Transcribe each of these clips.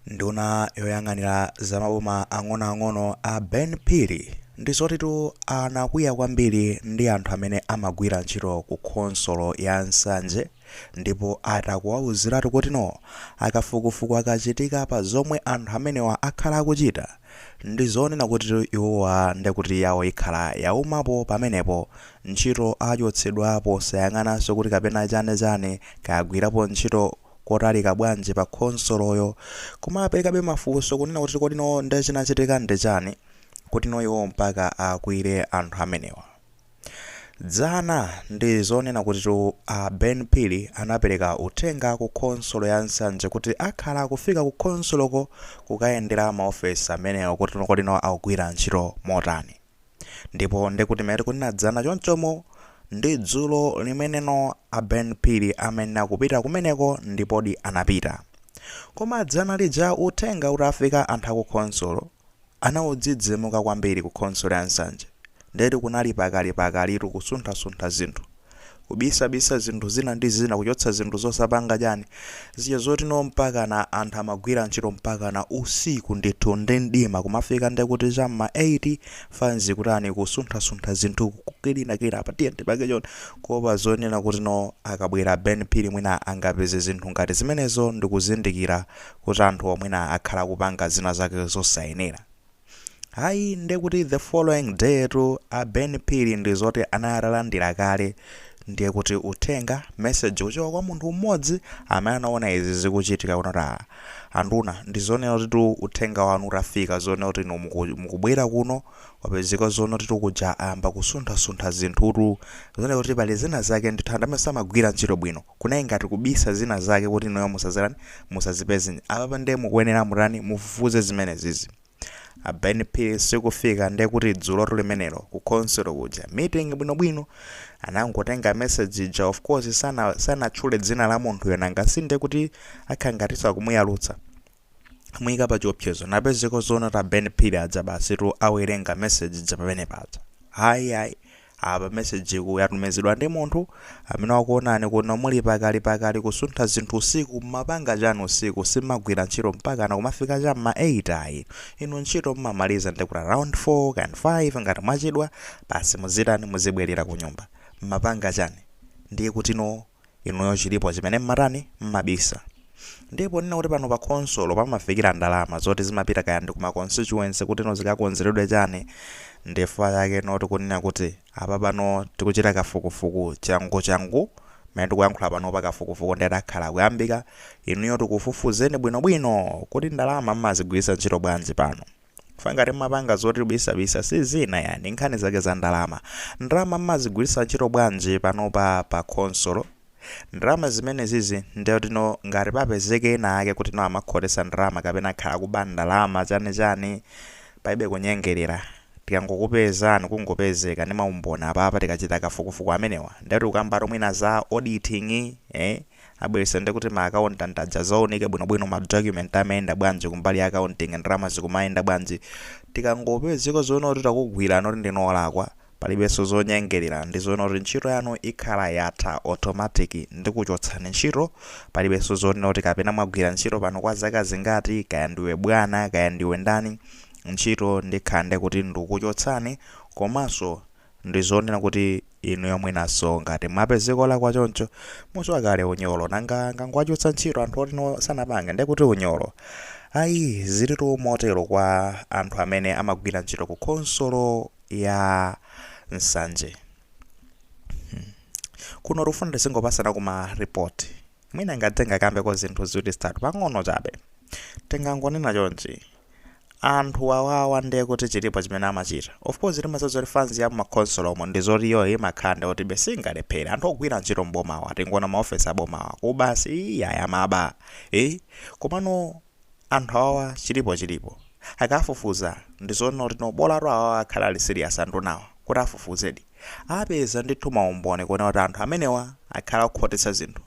Nduna yoyang'anira za maboma ang'onoang'ono a Ben Phiri ndi zoti tu anakwiya kwambiri ndi anthu amene amagwira ntchito ku khonsolo ya Nsanje ndipo ati akuwauziratu kutino akafukufuku akachitika pa zomwe anthu amenewa akhala akuchita ndi zonena kutitu iwowa ndekuti yawo ikhala yaumapo pamenepo ntchito achotsedwa posayang'ananso kuti kapena chane chane kagwirapo ntchito kotalika bwanji pa khonsoloyo komabe pali mafunso kunena kuti kodi nawo nde chinachitika ndi chani kuti no iwo mpaka akwiye anthu amenewa dzana ndi zonena kuti tu a ben phiri anapereka uthenga ku khonsolo ya nsanje kuti akhala akufika ku khonsoloko kukayendera maofesi amenewa kuti no kodi no akugwira ntchito motani ndipo ndikuti mmene tikunena dzana chonchomu ndi dzulo limeneno a ben phiri amayenera kupita kumeneko ndipodi anapita koma dzana lija uthenga utafika anthu akukhonsolo anadzidzimuka kwambiri ku khonsolo ya nsanje ndeti kunali pikitipikititu kusunthasuntha zinthu kubisabisa zinthu zina ndi zina kuchotsa zinthu zosapanga dzani zija zoti no mpakana anthu amagwira ntchito mpakana usiku ndithu ndi mdima kumafika ndekuti cha mma 8 anzi kutani kusunthasuntha zinthu kukilinakilina apa tiye tipange choni kuopa zonena kuti no akabwera ben phiri mwina angapeze zinthu ngati zimenezo ndikuzindikira kuti anthuwo mwina akhala kupanga zina zake zosayenera Ayi ndekuti the following day tu a Ben Phiri ndi zoti anali atalandira kale ndiye kuti uthenga message kuchoka kwa munthu mmodzi amene anaona izi zikuchitika kunena kuti ah, anduna ndi zonena kuti tu uthenga wanu utafika zonena kuti inu muku- mukubwera kuno kwapezeka zonena kuti tu kuja ayamba kusunthasuntha zinthutu zonena kuti pali zina zake ndithu anthu amene samagwira ntchito bwino kunali ngati kubisa zina zake kuti inuyo musazitani musazipeze apapa nde mukuyenera kutani mufufuze zimenezizi a Ben Phiri akufika nde kuti dzulotu limenelo ku khonsolo kuja meeting bwinobwino anangotenga message ija of course sana sanatchule dzina la munthuyo nanga si nde kuti akhala ngatinso akumuyalutsa kumuika pa chiopsezo nde kupezeka zonena kuti a Ben Phiri aja basi tu awerenga message ija pamene paja ayi ayi apa message iyi yatumizidwa ndi munthu amene wakuonani kuno muli pikitipikiti kusuntha zinthu usiku mmapanga chani usiku simagwira ntchito mpakana kumafika cha mma 8 ayi inu ntchito mmamaliza ndi kuti around 4 kan 5 ngati mwachedwa basi muzitani muzibwerera kunyumba mmapanga chani ndiye kutino inuyo chilipo chimene mmatani mmabisa. Ndi poona kuti pano pa khonsolo pamafikira ndalama zoti zimapita kaya ndi ku ma constituency kuti zikakonzeredwe chani ndifukwa chake tikunena kuti apapano tikuchita kafukufuku changuchangu mmene tikuyankhula panopa kafukufuku ndiye akhala akuyambika inuyo tikufufuzeni bwinobwino kuti ndalama mmazigwiritsa ntchito bwanji pano. Chifukwa ngati mmapanga zoti kubisabisa sizina ayi ndi nkhani zake za ndalama. Ndalama mmazigwiritsa ntchito bwanji panopa pa khonsolo? Ndalama zimenezizi ndiye kuti no ngati papezeke ena ake kuti no amakhotetsa ndalama kapena akhala akuba ndalama chani chani palibe kunyengerera tikangokupezani kungopezeka ndi maumboni apapa tikachita kafukufuku amenewa ndiye tikukambatu mwina za auditing eh Abwerese nde kuti ma accountant aja azaunike bwino bwino ma document amayenda bwanji kumbali ya accounting ndalama zikumayenda bwanji. Tikangopezeka zoona kuti takugwirani kuti ndinu olakwa palibeso zonyengerera ndizoona kuti ntchito yanu ikhala yatha automatic ndikuchotsani ntchito palibeso zonena kuti kapena mwagwira ntchito pano kwa zaka zingati kaya ndiwe bwana kaya ndiwe ndani ntchito ndikhala ndekuti ndikuchotsani komaso Ndizowona kuti inuyo mwinaso ngati mwapezeka olakwa choncho muziwa kale unyolo nanga angowachotsa ntchito anthu oti no sanapanga nde kuti unyolo ayi zilitu motelo kwa anthu amene amagwira ntchito ku khonsolo ya nsanje hmm. kuno tikufuna tizingopasana ma report mwina ngati tingakambe ko zinthu ziwiri zitatu pang'ono chabe tingangonena chonchi anthu awawa nde kuti chilipo chimene amachita? Of course timadziwa zoti fans ya mma khonsolo umu ndi zoti iyoyo imakhala ndi zoti ibe singalephere, anthu ogwira ntchito m'bomawa tingoona ma office a bomawa kuba si iyayi amaba eh komano anthu awawa chilipo chilipo akafufuza ndi zoona kuti no bolatu awawa akhala ali serious andunawa kuti afufuzedi apeza ndithu maumboni kuona kuti anthu amenewa akhala akukhotetsa zinthu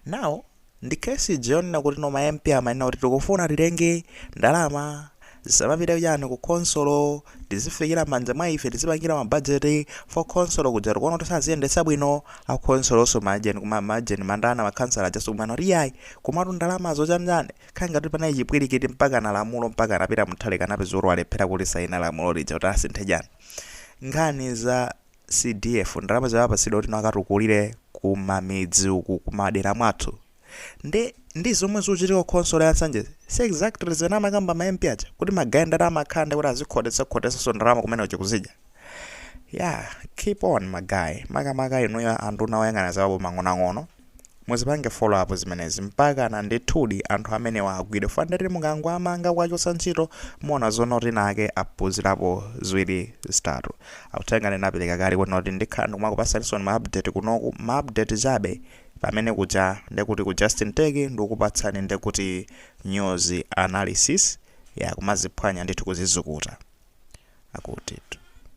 now Ndi case ija yonena kuti no ma MP amanena kuti tikufuna titenge ndalama zisamapite chani ku khonsolo tizifikira mmanja mwa ife tizipangira ma budget for khonsolo ija tikuona kuti saziyendetsa bwino a khonsolonso ma agent kuma ma agent ma ndana ma khansala ajanso kumana kuti iyayi komatu ndalamazo chani chani kukhala ngati kuti panali chipwirikiti mpakana lamulo mpakana Peter Mutharika anapeza kuti walephera kulisaina lamulo lija kuti asinthe chani nkhani za CDF ndalama zimene apatsidwa kuti nawo akatukulire ku mamidzi ku madera mwathu nde ndi zomwe zikuchitika ku khonsolo ya Nsanjezi si exactly zimene amakamba ma MP aja kuti magaye ndalama akhala ndi kuti azikhotetsa khotetsanso ndalama kumene kuja kuzidya yeah keep on ma guy makamaka inuyo anduna oyang'ana za maboma ang'onoang'ono Muzipange follow up zimenezi mpakana ndithudi anthu amenewa agwidwe fundati mukangowamanga kuwachotsa ntchito muona zonoti anzake aphunzirapo ziwiri zitatu uthenga ndinapeleka kale kunoti ndikhala ndikumakupatsanisoni ma update kunoku ma update chabe pamene kuja ndekuti ku Justin Tech ndikukupatsani ndekuti news analysis ya kumaziphwanya ndithu kuzizukuta akutitu